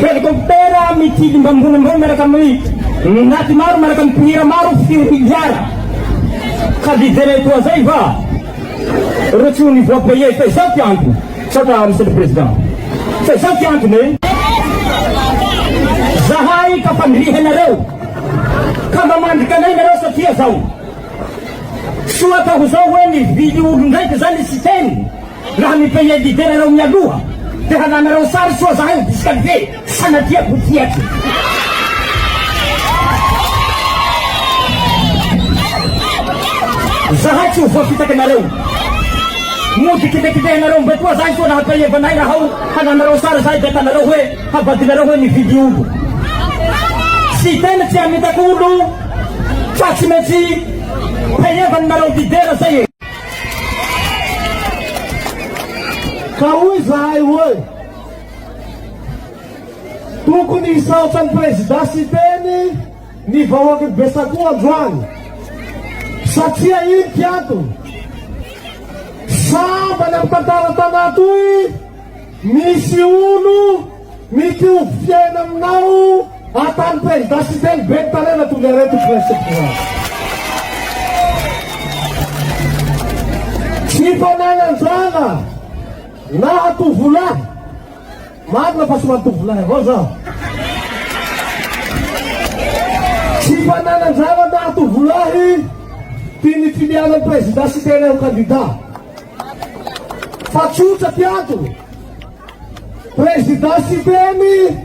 Helikoptera mitily mba ambony ambony miaraka amin'ny naty maro miaraka amin'ny mpihira maro fito miliara. Ka dijereo toa zay va? Ireo tsy ho ny voix payée fa izao ty antony. Misaotra Monsieur le Président. Fa izao ty antony e. Zahay ka fandrihanareo ka mba mandrika anay nareo satria zao. Soa atao izao hoe nivily olon-draika zany i Siteny. Raha ny pays indiveranao mialoha de halanareo sary soa zahay ho disqualifie tsy sanatia ko ty aky. Zahay tsy ho voafitaky nareo. Mody kibekibehanareo mba toa zahay soa naha pays vanay raha ao halanareo sary zahay de atanareo hoe havadinareo hoe nividy olo. Tsy tena tsy hamitaka olo fa tsy maintsy pays vananareo leader zay e. Ka hoy zahay hoe tokony hisaotra ny prezida Siteny ny vahoaky ny Besako androany satria iny kiantony sambany amin'ny tantara tanatoy misy olo Mitovy fiaina aminao atany prezida siteny be talena tonga iray tokony asepizana. Tsy fananan-jana na hatovolahy. Marina fa somary tovolahy avao zaho. Tsy fananan-jana na hatovolahy tian'ny filianan'ny prezida siteny ho kandida. Fa tsotra ty antony. Président Siteny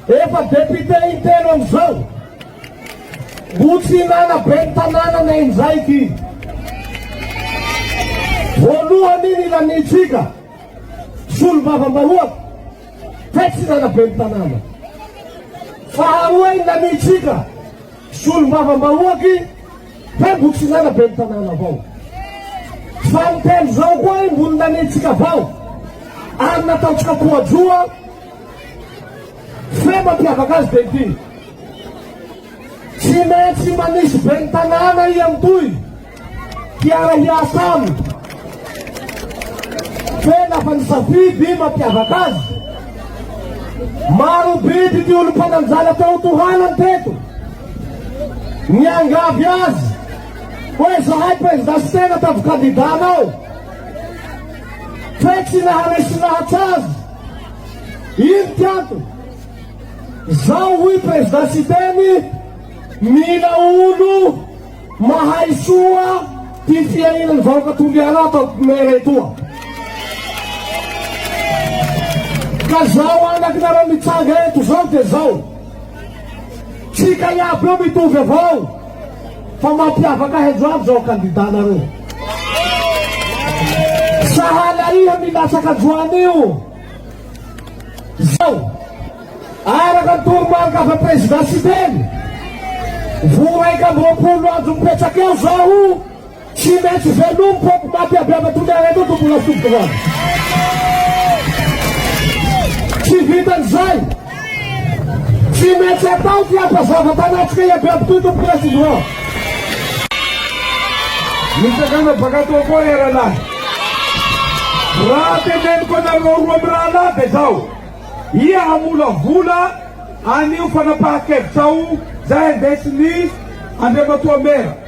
efa député intelo amizao. Mbo tsy hinana ben'ny tananana injay ty. Voalohany ny lanintsika solombavambahoaka fa tsy hinana ben'ny tanàna. Faharoa ny lanintsika solombavambahoaky Fa boky filana ben'ny tanàna vao. Fa ny telo zao koa i mbony nanitsika vao. Ary nataontsika poadroa. Fe mampiavaka azy dia ity. Tsy maintsy manisy ben'ny tanàna i Amitoy hiara-hiasa aminy. Fe lafa ny safidy mampiavaka azy. Maro bidy ny olom-pananjana teo tohanany teto. Miangavy azy hoe zahay Prezida Siteny ataovy kandida anao fe tsy naharesy lahatra azy. Ino ty antony? Zao hoy Prezida Siteny, mila olo mahay soa ty fiahiana ny vahoaka Toliara ato Ampomera etoa. Ka zao anakinareo mitsanga eto zao de zao. Tsika iaby eo mitovy avao fa mampiavaka ahy ajoavy zao candidat nareo. Sahala iha milatsaka ajoany io zao araka ny toromarika avy am president Siteny. Vao raika amby roapolo andro mipetsak eo zaho. Tsy maintsy velom poko maty aby ava tony ary aloha tombola foko voan. Tsy vitan zay. Tsy maintsy atao ty ampazava tanatsika iaby aby toy tompo president. Misakana baka toa koa ry rahalahy. Raha teneniko anareo roa mirahalahy de zao, ia hamolavola anio fanapaha kevitra ao zay andesin ny Andriamatoa Mera.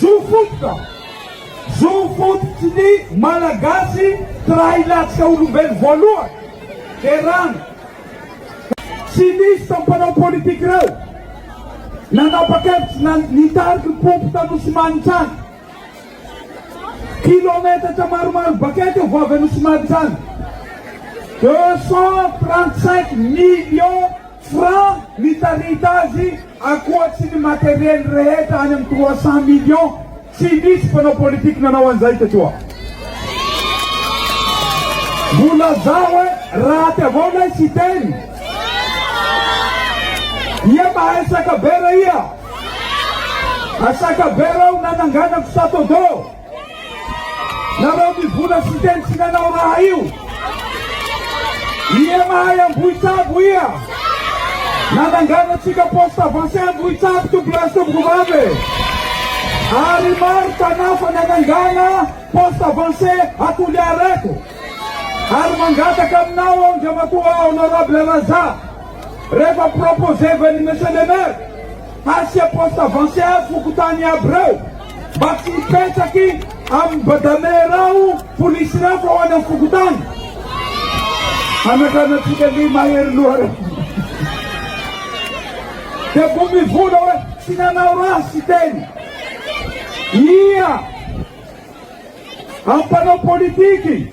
Zo fototra, zo fototry ny Malagasy tsy raha hilatsaka olombelo voalohany dia rano. Tsy nisy tamin'ny mpanao politika ireo nanapa-kevitra na nitariky ny pompy tany Nosimanitsany. Kilometatra maromaro bakaiky eo voavin'i Nosimanitsany, deux cent trente-cinq millions. Francs mitarita azy akoatsy ny materiel rehetra any amin'ny trois cent millions tsy nisy mpanao politique nanao an'izay teto aho. Mbo lazao hoe raty avao ilay Siteny. Ia mahay sakabera ia? Asakabera aho nananganako Satodo. Nareo mivona sy teny tsy nanao raha io. Ia mahay ambohitsabo ia? Nanangana tsika poste avancé ambohitsabo tompolahy tompoko vavy. Ary maro tanà fa nanangana poste avancé atoliareko. Ary mangataka aminao Andriamatoa Honorable Razafy rehefa proposer ven'ny Monsieur le Maire Asia poste avancé à fokontany aby reo mba tsy hipetraky amin'ny badame reo polisy reo fa ho any amin'ny fokontany anakanatsika li mahery loha reo dia vao mivola hoe tsy nanao raha sy teny ia ampanao politiky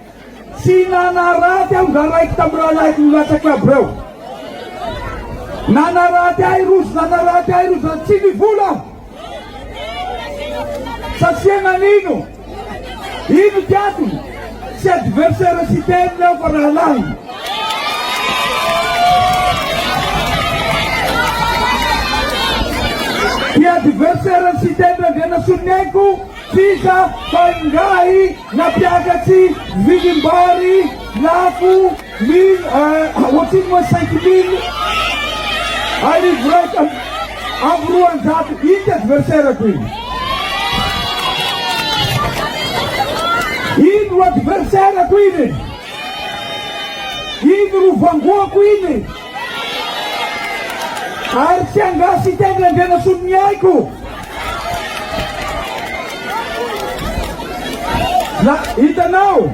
Tsy nanaraty aho nga raiky tam rahalahiko nilatsaka aby reo nanaraty ahy rozy nanaraty ahy rozy zany tsy nivola aho satria nanino ino ty atony tsy adversaire tsy teniny aho fa rahalahiny ty adversaire tsy teniny randrianasoloniaiko Sisa fa ingahy na mpiakatsy vidim-bary lafo mille ohatrino moa cinq mille arivo raika amby roanjato ity adversaire-ko iny. Iny ro adversaire-ko iny e! Iny ro vangoako iny e! Ary tsy angaha sy tendry Andrianasolo ny aiko. La hitanao,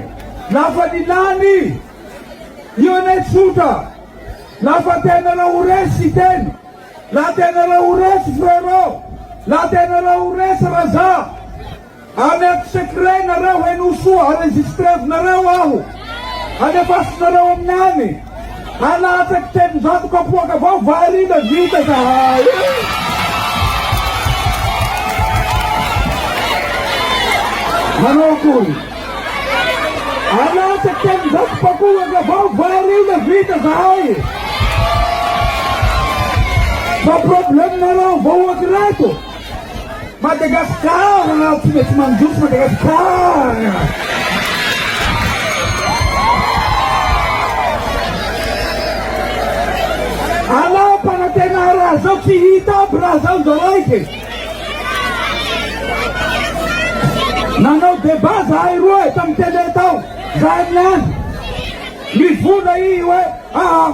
lafa ny lany, io anie tsotra, lafa tena raha ho resy sy tendry, la tena raha ho resy frero, la tena raha ho resy Raza. Alerte secret nareo henoy soa enregistrevinareo aho alefasinareo amin'ny any alatsako telonjato kapoaka vao variana vita zahay Manao akory. Alatsaka telonjato pakohaka vao variana vita zahay. Fa problème nareo vahoaka ireto. Madagascar na tsy mety mandroso Madagascar. Alao mpanantenà raha zao tsy hita aby raha zao ndao raiky e. Nanao débat zahay roa e tam télé tao zahay niany. Mivona i hoe aa.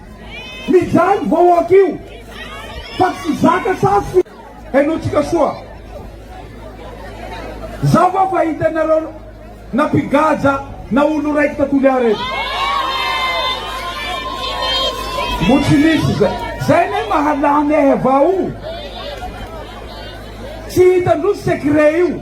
Mijaly ny vahoaka io fa tsy zaka sasy fi. Henotsika soa. Za va fa hita nareo na mpigaja na olo raiky ta Toliara eto. Mbo tsy nisy zay. Zay ne mahalany ahy avao. Tsy hitan-droa secret io.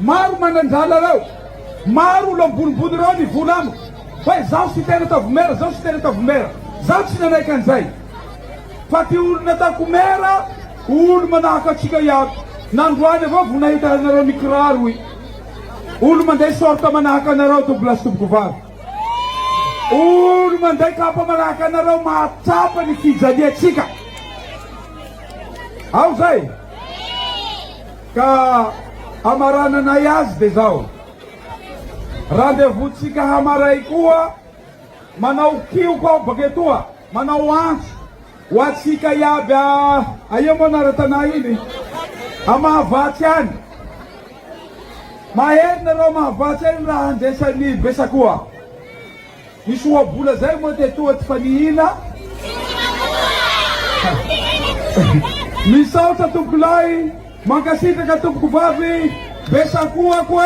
Maro manan-drala reo, maro olo ambonimbony reo ny vola amiko fa izaho sy tena tavomera, izaho sy tena tavomera, izaho tsy nanaiky an'izay fa ty olo nataoko mera olo manahaka antsika iaby, nandroany avao vo nahita anareo ny kiraro y olo manday sorte manahaka anareo double asitoboko vavy, olo manday kapa manahaka anareo mahatsapa ny fijaliantsika ao zay. Ka hamarananay azy dia izao, Randevountsika hamaray koa manao kioko aho baka etoa, manao antso ho antsika iaby a, aia moa nara-tanà iny? A Mahavatsy any. Mahery nareo Mahavatsy any raha handresy an'i Besakoa. Misy ohabola zay moa dia toa tsy fanihina? Misaotra tompokolahy, mankasitraka tompokovavy, be sakoako e.